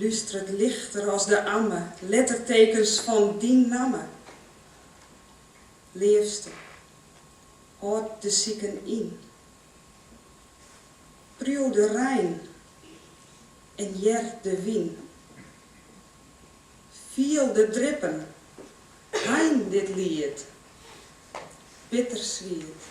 Lústert lichter as de amme. Lettertekens fan dyn namme. Leafste, hâld de siken yn. Priuw de rein en hear de wyn. Fiel de drippen, hein dit liet. Bitterswiet.